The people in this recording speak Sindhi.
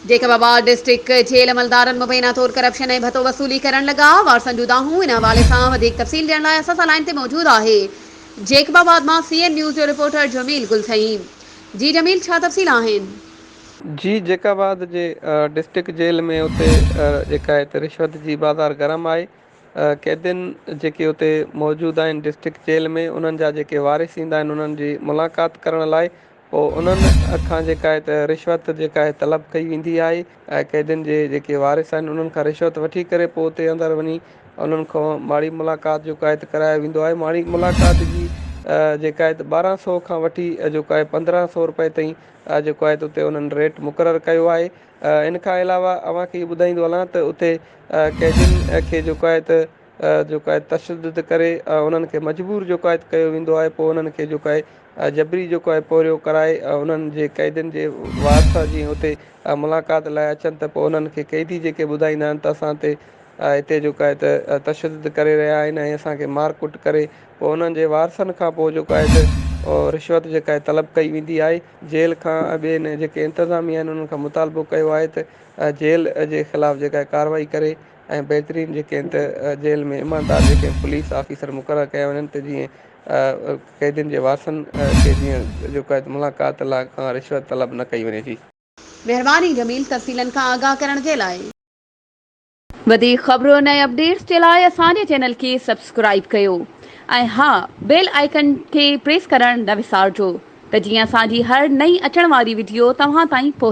جيڪب آباد ڊسٽرڪٽ جيل عملدارن مبينا طور ڪرپشن ۽ ڀتو وصولي ڪرڻ لڳا، وارثن جون دانهون، ان حوالي سان وڌيڪ تفصيل ڏيڻ لاء اسان سان لائين تي موجود آهي جيڪب آباد مان سي اين نيوز جو رپورٽر جميل گل سعيد جي جميل ڇا تفصيل آهن. جي جيڪب آباد جي ڊسٽرڪٽ جيل ۾ اتي جيڪا هتي رشوت جي بازار گرم آهي قيدين جيڪي اتي موجود آهن ڊسٽرڪٽ جيل ۾ انهن جا جيڪي وارث ايندا آهن انهن جي ملاقات ڪرڻ لاء پوء انهن کان جيڪا هت رشوت جيڪا هي طلب ڪئي ويندي آهي ۽ قيدين جي جيڪي وارث آهن انهن کان رشوت وٺي ڪري پوء اتي اندر وڃي انهن کان ماڙي ملاقات جيڪا هت ڪرايو ويندو آهي ماڙي ملاقات جي جيڪا هت ٻارهن سؤ کان وٺي جيڪا هي پندرهن سؤ روپئي تائين جيڪو آهي ته اتي انهن ريٽ مقرر ڪيو آهي ان کان علاوه اوهان کي هي ٻڌائيندو هلان ته اتي قيدين کي جيڪو آهي ته جيڪو آهي تشدد ڪري انهن کي مجبور جيڪو آهي ڪيو ويندو آهي پوء انهن کي جيڪو آهي جبري جيڪو آهي پورهيو ڪرائي انهن جي قيدين جي وارث جي اتي ملاقات لاء اچن ته پوء انهن کي قيدي جيڪي ٻڌائيندا آهن ته اسان تي اتي جيڪو آهي ته تشدد ڪري رهيا آهن ۽ اسان کي مار ڪٽ ڪري پوء انهن جي وارثن کان پوء جيڪو آهي ته رشوت جيڪا آهي طلب ڪئي ويندي آهي جيل کان ۽ ٻين جيڪي انتظاميا آهن انهن کان مطالبو ڪيو آهي ته جيل جي خلاف جيڪا آهي ڪارروائي ڪري ۽ بهترين جيڪي آهن ته جيل ۾ ايماندار جيڪي پوليس آفيسر مقرر ڪيا وڃن ته جيئن قيدين جي وارثن کي جيئن جيڪا ملاقات لاء کان رشوت طلب نه ڪئي وڃي ٿي. مهرباني جميل تفصيلن کان آگاهه ڪرڻ جي لاء. وڌيڪ خبرن ۽ اپڊيٽس جي لاء اسان جي چينل کي سبسڪرائيب ڪيو ۽ ها بيل آئيڪن کي پريس ڪرڻ نه وسارجو ته جيئن اسان جي هر نئين اچڻ واري وڊيو توهان تائين پهچي.